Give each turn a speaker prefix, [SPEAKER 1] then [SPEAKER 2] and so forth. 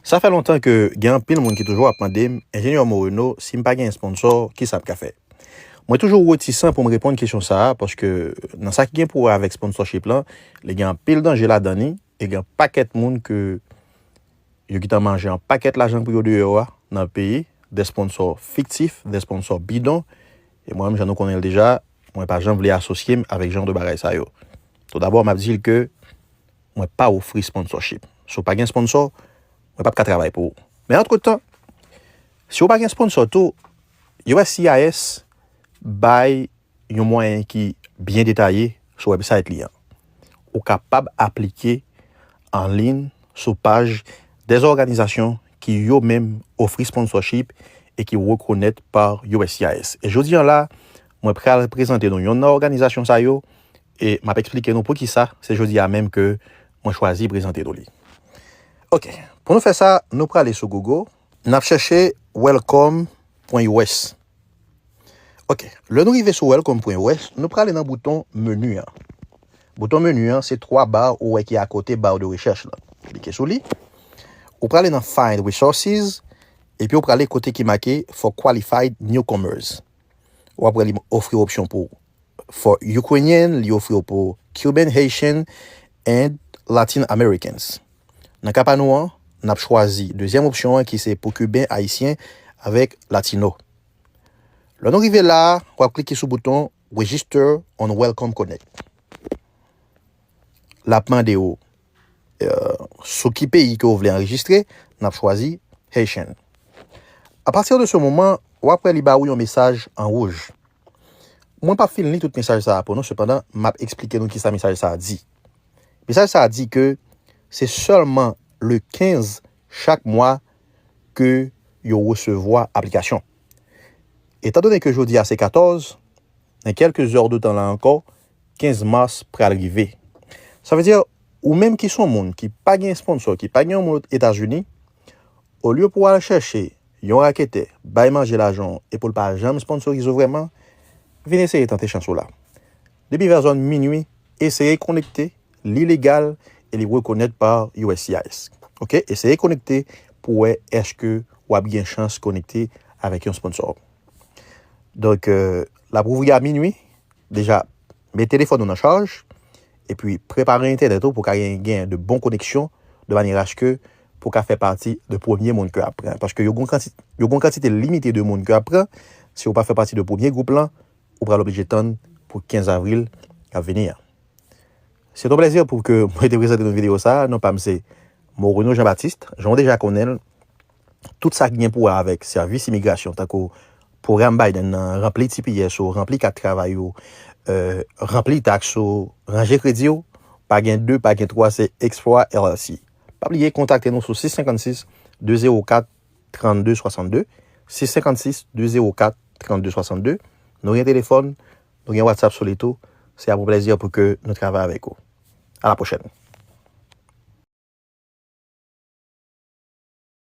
[SPEAKER 1] Sa fè lontan ke gen anpil moun ki toujou ap mande m, Enjenyè Moreno, si m pa gen esponsò, kisa m ka fè? Mwen toujou retisan pou m reponn kesyon sa a paske nan sa ki gen pou wè avèk sponsorship lan, li gen anpil danje ladan li e gen yon pakèt moun ke yo gentan manje yon pakèt lajan pou yo deyò a nan peye dè sponsò fiktif, dè sponsò bidon e mwen menm jan nou konnen l deja, mwen pa janm vle asosye m avèk jan de bagay sa yo. Toudabò, m ap di l ke. mwen pa ofri sponsorship. Si w pa gen sponsor, mwen pap ka travay pou ou. Men antretan, si w pa gen sponsor tou, uscis bay yon mwayen ki byen detaye sou website li an. Ou kapab aplike anliyn sou paj des òganizasyon ki yo menm ofri sponsorship e ki rekonèt par uscis. E jodi an la, mwen pral prezante nou yonn nan òganizasyon sa yo E m ap eksplike nou poukisa se jodi a menm ke mwen chwazi prezante nou li. Ok, pou nou fè sa, nou prale sou Google, n ap chèche welcome pwen us. Ok, lè nou rive sou welcome pwen us, nou prale nan bouton menu an. Bouton menu an se 3 ba ou wè ki akote barre de recherche lan. Klike sou li. Ou prale nan find resources, epi ou prale kote ki make for qualified newcomers. Ou ap wè li ofri w opsyon pou For Ukrainian, li ofri w pou Cuban, Haitian and Latin Americans. Nan ka pa nou an, n ap chwazi dezyèm opsyon an ki se pou Cuban, Haitian avèk Latino. Lè nou rive la a, w ap klike sou bouton Register on Welcome Connect. L ap mande ou. sou ki peyi ke ou vle anrejistre, nap chwazi Haitian. A partir de ce moment, wap wè li ba ou yon mesaj an wouj. Mwen pap fin li tout mesaj sa a pou nou, sepandan map eksplike nou kisa mesaj sa a di. Mesaj sa a di ke se sèlman le 15 chak mwa ke yo resevwa aplikasyon. Etan done ke jodi a se 14, nan kelke zèr de tan la ankò, 15 mars pral rive. Sa vle di ou menm ki son moun ki pa gen esponnsò, ki pa gen yon moun Etazini, olye pou w al chèche yon raketè bay manje lajan w e pou l pa janm esponnsorize w vrèman, vin eseye tante chans ou la. Depi vè zòn minui, eseye konekte, li legal e li rekonèt pa uscis. Ok, eseye konekte pou wè èske w ap gen chans konekte avèk yon esponnsò. Donk, l ap ouvri a minui, Deja, met telefòn ou nan chaj, epi prepare entènèt ou pou ka gen gen de bon koneksyon de manyè aske pou ka fè pati de premye moun ke ap pran. Paske yo gon yo gon kantite limite de moun ke ap pran, si ou pa fè pati de premye gwoup lan, ou pral oblije tann pou 15 avril kap vini an. Se ton plèzi pou ke mwen te prezante nou videyo sa a, non pa m se Morono Jean Baptiste, jan ou deja konnen l, tout sa ki gen pou wè avèk sèvis imigrasyon tankou pwogram Biden nan, ranpli tps ou, ranpli kat travay ou, ranpli taks ou, ranje kredi ou, pa gen 2, pa gen 3 se Explora LLC. Pa bliye kontakte nou sou 656 204 32 62, 656 204 32 62, nou gen telefòn, nou gen WhatsApp sou li tou, se ap yon plèzi pou ke nou travay avèk ou. A la pwochèn!